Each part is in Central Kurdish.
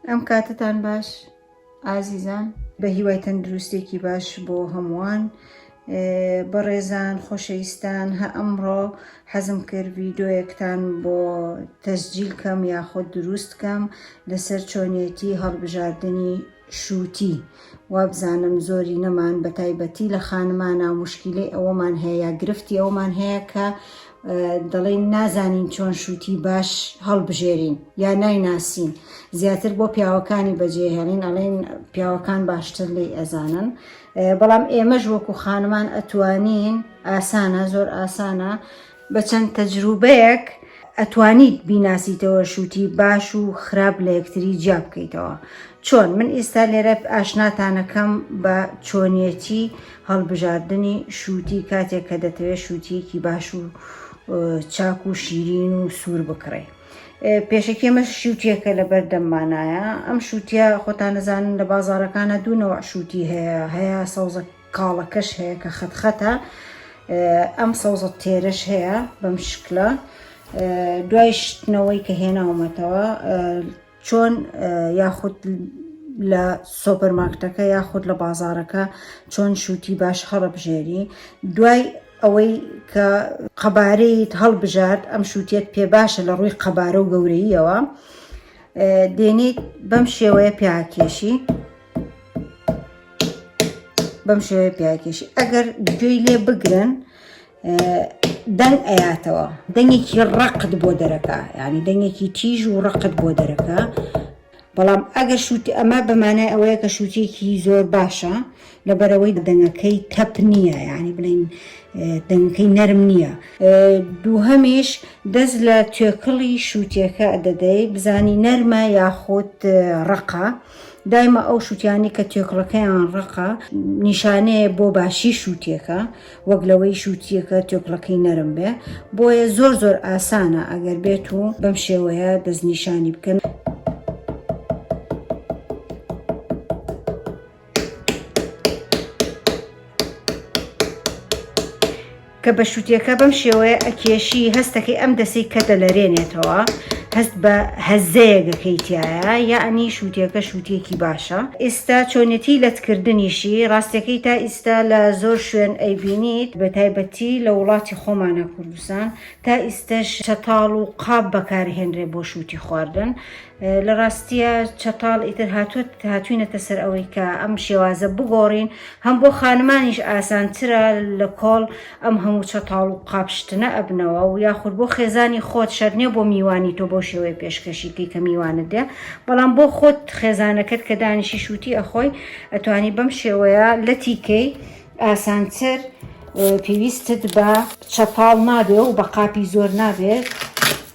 ئەم کاتتان باش ئازیزان. بە هیوای تەندروستێکی باش بۆ هەمووان بەڕێزان خۆشەویستان هە ئەمڕۆ حەزم کرد ڤیدۆیەکتان بۆ تەسجیل کەم یاخۆ دروست کەم لەسەر چۆنیەتی هەڵبژاردنی شووتی وابزانم زۆرینەمان بەتایبەتی لە خانمانە مشکیلەی ئەوەمان هەیە یا گرفتی ئەوەمان هەیە کە دەڵێن نازانین چۆن شووتی باش هەڵبژێرین یا نایناسین زیاتر بۆ پیاوەکانی بەجێهێڵین ئەڵێن پیاوەکان باشتر لی ئەزانن بەڵام ئێمەش وەکو خانمان ئەتوانین ئاسانە زۆر ئاسانە بە چەند تەجروبەیەک ئەتوانیت بیناسیتەوە شوتی باش و خراپ لە یەکتری جیا بکەیتەوە چۆن من ئیستا لێرە ئاشناتانەکەم بە چۆنیەتی هەڵبژاردنی شوتی کاتێک کە دەتەوێت شوتیەکی باش و چاک و شیرین و سوور بکڕی پێشەکی ئەمە شووتیەکە لە بەردەممانایە ئەم شووتە خۆتان نەزانن لە بازارەکانە دوونەوە شووتی هەیە هەیە سەوزە کاڵەکەش هەیە کە خەت خەتە ئەم سەوزە تێرەش هەیە بەم شکلە دوای شتنەوەی کە هێناومەتەوە چۆن یاخود لە سۆپەرماکتەکە یاخود لە بازارەکە چۆن شووتی باش هەڵبژێری دوای ئەوەی کە قەبارەیت هەڵبژارد ئەم شووتێت پێ باشە لە ڕووی قەبارە و گەورەیەوە دێنیت بەم شێوەیە پیاکێشی بەم شێوەیە پیاکێشی ئەگەر گوێی لێ بگرن دەنگ ئەیاتەوە دەنگێکی ڕقت بۆ دەرەکە ینی دەنگێکی تیژ و ڕقت بۆ دەرەکە بەڵام ئەگەر شووتی ئەمە بەمانای ئەوەیە کە شووتێکی زۆر باشە لەبەرەوەی دەنگەکەی تەپ نییە ینی بڵین دەنگەکەی نەرم نییە دووهەمیش دەست لە توێکڵی شووتێکە دەدەی بزانی نەرمە یاخود ڕقە. دایمە ئەو شووتیانەی کە توێکڵەکەیان ڕەقە نیشانەیە بۆ باشی شووتیەکە وەک لەوەی شووتیەکە توێکڵەکەی نەرم بێ بۆیە زۆر زۆر ئاسانە ئەگەر بێت و بەم شێوەیە دەستنیشانی بکەن. کە بە شوتێکە بەم شێوەیە ئەکێشی هەستەکەی ئەم دەسەی کە دەلەرێنێتەوە هەست بە هەزەیەک ئەکەی تیایا یەعنی شوتێکە شوتێکی باشە ئیستا چۆنێتی لەتکردنیشی ڕاستەکەی تا ئیستا لە زۆر شوێن ئەیبینیت بە تایبەتی لە وڵاتی خۆمانا کوردستان تا ئیستەش چەتاڵ و قاپ بەکارهێنرێ بۆ شوتی خواردن لە ڕاستیە چەتاڵ ئیتر هاتووە هاتوینەتە سەر ئەوەی کە ئەم شێوازە بگۆڕین هەم بۆ خانمانیش ئاسانترە لە کۆڵ ئەم هەموو چەتاڵ و قاپشتنە ئەبنەوە و یاخود بۆ خێزانی خۆت شەرنیە بۆ میوانی تۆ بۆ شێوەیە پێشکەشیکەی کە میوانت دێ بەڵام بۆ خۆت خێزانەکەت کە دانیشی شووتی ئەخۆی ئەتوانی بەم شێوەیە لەتیکەی ئاسانتر پێویستت بە چەتاڵ نابێ و بە قاپی زۆر نابێت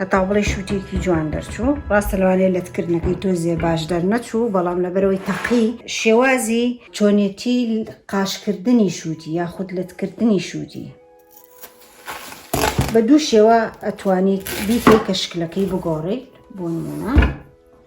هەتا بڵێ شووتێکی جوان دەرچوو ڕاستە لەوانێ لەتکردنەکەی تۆ زێ باش دەرنەچوو بەڵام لەبەرەوەی تەقی شێوازی چۆنێتی قاشکردنی شووتی یاخود لەتکردنی شووتی بە دوو شێوە ئەتوانیت بیکەی کە شکلەکەی بگۆڕیت بۆ نمونە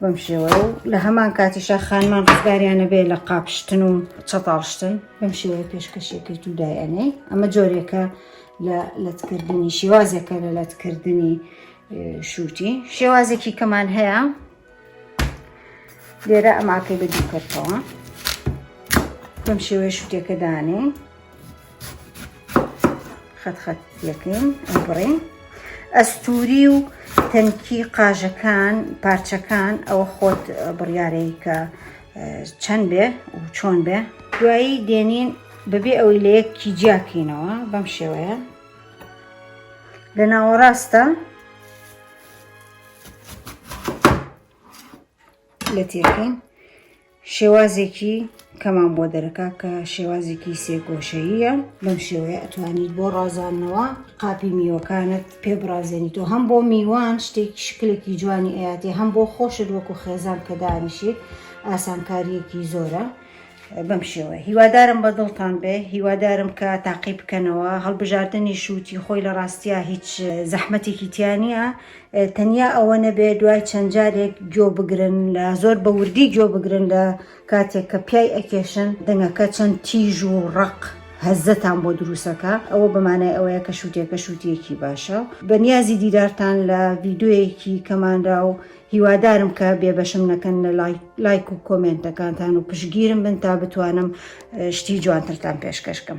بەم شێوەیە و لە هەمان کاتیشا خانمان ڕزگاریانە بێ لە قاپشتن و چەتاڵشتن بەم شێوەیە پێشکەشێکرد و دایەنێ ئەمە جۆرێکە لە لەتکردنی شێوازێکە لە لەتکردنی شووتی شێوازێکی کەمان هەیە لێرە ئەماکەی بە دوو کردەوە بەم شێوەیە شوتێکە دانێ خەت خەت یەکەین بڕین ئەستوری و تەنکی قاژەکان پارچەکان ئەوە خۆت بڕیارەی کە چەند بێ و چۆن بێ دوایی دێنین بەبێ ئەوەی لە یەکی جیاکەینەوە بەم شێوەیە لە ناوەڕاستە لە تێکەین شێوازێکی کەمان بۆ دەرەکا کە شێوازێکی سێگۆشەییە بەم شێوەیە ئەتوانیت بۆ ڕازاندنەوە قاپی میوەکانت پێ بڕازێنیت و هەم بۆ میوان شتێک شکلێکی جوانی ئەیاتێ هەم بۆ خۆشت وەکو خێزان کە دانیشیت ئاسانکاریەکی زۆرە بەم شێوە هیوادارم بە دڵتان بێ هیوادارم کە تاقی بکەنەوە هەڵبژاردننی شووتی خۆی لە ڕاستیا هیچ زەحمەتێکی تیانە تەنیا ئەوە نەبێت دوای چەند جارێک گوێ بگرن لە زۆر بە وردی گوێ بگرن لە کاتێک کە پیای ئەکێشن دەنگەکە چەند تیژ و ڕق هەزتان بۆ دروستەکە ئەوە بەمانای ئەوەیە کە شووتێکە شووتێکی باشە بە نیازی دیدارتان لە ڤیددیویەکی کەمانرا و هیوادارم کە بێبەشم نەکەن لە لایک و کۆمنتەکانتان و پشگیرم بن تا بتوانم شتی جوانترتان پێشکەشکەم.